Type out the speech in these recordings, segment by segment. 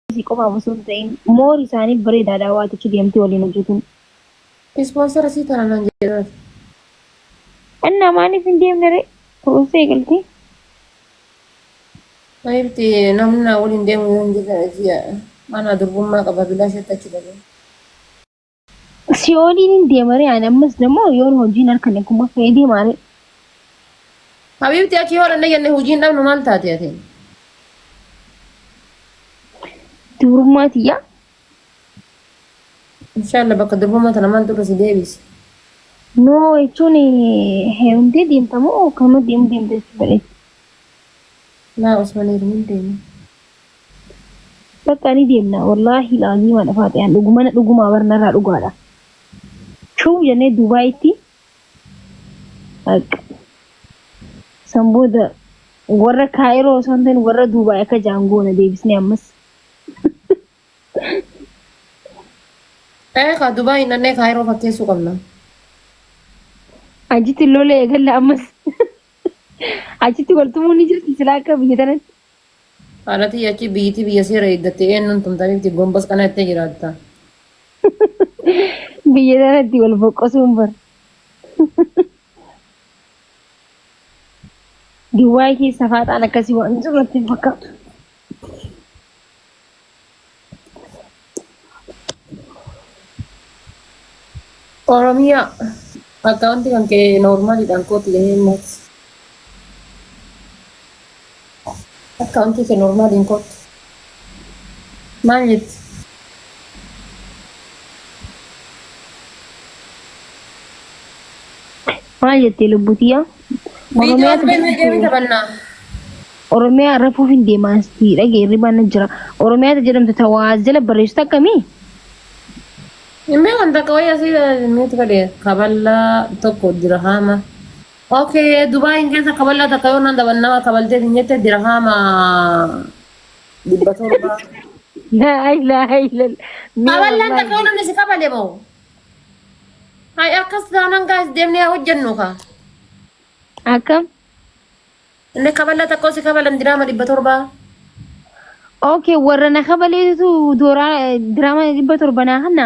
Isii qofaaf osoo hin ta'in moor isaaniif bareedaadha waa achi deemtee waliin hojjetuun. Ispoonsara sii tana naan jedhe maaf. Annaa maaliif hin deemne ree? Kunuunsa eegaltee? Habiibti namni naa waliin deemu yoo hin jirre ji'a anaa durbummaa qaba bilaashatti achi dabree. Si'ooliin hin deemaree ani ammas dammoo yoon hojiin harka na kuma fa'ee deemaaree. Habiibti akki yoo dhanne jenne hojiin dhabnu maal taate ati? Dubrummaa tiyyaa. Inshaalla bakka durbummaa tana maaltu irra si deebise? Noo jechuun heerumtee deemta moo kanuma deemu deemta jechuudha. Laa Usman heerumuu hin deemu. Bakka ni deemna wallaahi laaziima dha faatiyaan dhugumana dhugumaa bar narraa dhugaa dha shuu jennee duubaayitti bakka san booda warra kaayiroo osoo hin ta'in warra duubaay akka jaan goona deebisnee ammas Ee kaa Dubaay hin dhannee kaayiroo fakkeessuu qabna. achitti lola eegalla ammas achitti wal tumuun ni jirti silaa akka biyya tanatti Haadha tiyya achi biyyitii biyya seera eeggatte eenyuun tumta bifti gombas kana jettee jiraatta. Biyya sanatti wal boqqosuun bar. Duwwaay keessa faaxaan akkasii waan jiru natti hin fakkaatu. Oromia account kan kee normal dhaan kooti jedhee immoo account kee normal hin kooti maal jetti Maal jettee lubbuu tiyyaa? Viidiyoo Oromiyaatu Abbee Milgee ni taphannaa. Oromiyaa rafuuf hin deemaan si dhagee hirribaan na jira. Oromiyaatu jedhamtu ta waa as jala barreessitu akkamii? Hin beekan takka wayii asii nuti godhe kaballaa tokko dirahaama. Okay, Dubaayin keessa kaballaa takka yoo naan daban nama kabalteef hin jette dirahaama dhibba torba. Laa ilaaha illallah. Mee Kaballaan wallahi. takka yoo namni si kabale moo? Hay akkas taanaan gaa'is deemnee haa hojjennu kaa. Akkam? Inni kaballa tokko si kabalan diraama dhibba torbaa. Okay, warra na kabaleetu dooraa diraama dhibba torba naa hanna.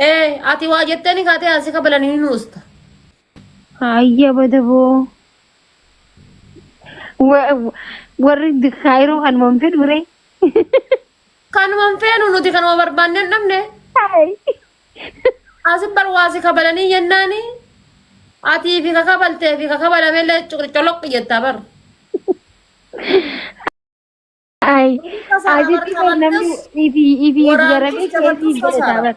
Ee ati waa jetteeni kaatee haa si kabalan ni nuusta. Ayya badaboo. Wa- wa- Warri kaayiroo kan manfee dure. Kanuma hin feenu nuti kanuma barbaanne hin dhabne. Hey. Asin bar waa si kabalanii jennaani atii fi kakabaltee fi kakabalame illee coloq jettaa bar. Ay. Kasa Asitti kabar namni kabartes ifi ifi waraabbii garamee dabartus keessi kasa. godhata bar.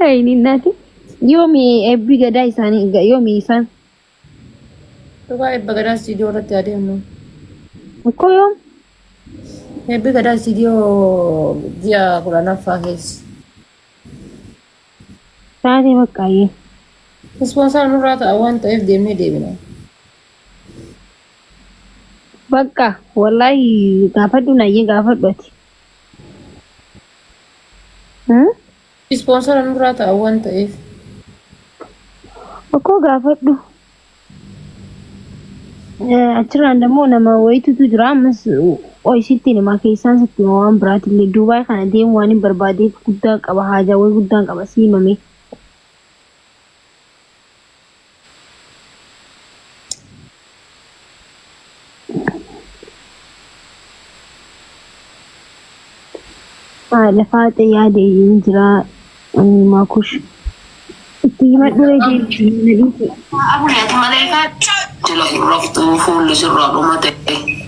Ayni nati. Yomi ebbi gadaa isani ga- yomi isan. Dhugaa ebba gadaa istiidiyoo irratti adeemu. Ko yom. Ebbi gadaa istiidiyoo ji'a kudhanaffaa keessa. Taate bakka ayye. Ispoonsara nurraa ta'a waan ta'eef deemnee deebina. Bakka wallahi gaafadhu nayye gaafadhu ati. Ispoonsara nurraa ta'a waan ta'eef. Okkoo gaafadhu. Achirraan immoo nama wayitutu jira ammas qoy sitti hima keessaan sitti hima waan biraatillee Duubaay kana deemu waan hin barbaadeef guddaa qaba haajaawwan guddaan qaba si himame. Haadha faaxe yaade hin jiraa inni maakush itti himadhu reejiin Abune ati malee kaa jala hin raftu fuulli sirraa dhumate.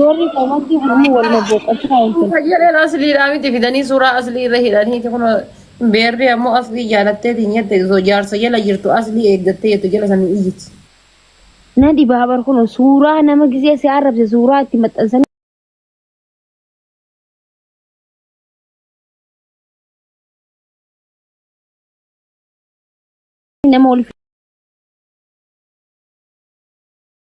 Warri qabaatti hamma wal bobboqotu taa'in kun. Fayyadeen asliidhaa miti fidanii suuraa aslii irra hidhaniiti kun beerri ammoo aslii jaalattee tiin jette osoo jaarsa jala jirtu aslii eeggattee jettu jala sanii iyyiti. Na dhibaa bar kun suuraa nama gisee si arrabse suuraa itti maxxansanii. Nama wal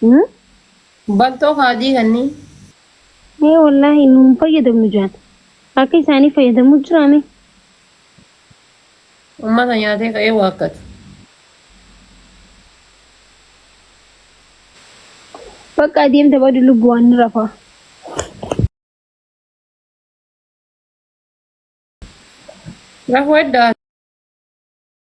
Hmm? Baltoo kaadii kannii. Ee wallaahi nu hin fayyadamnu jaan. Akka isaanii fayyadamu jiraame. Ummata nyaatee ka'ee waakkatu. Bakka adeemta badu lubbu waan ni rafaa. Rafuu eddaa.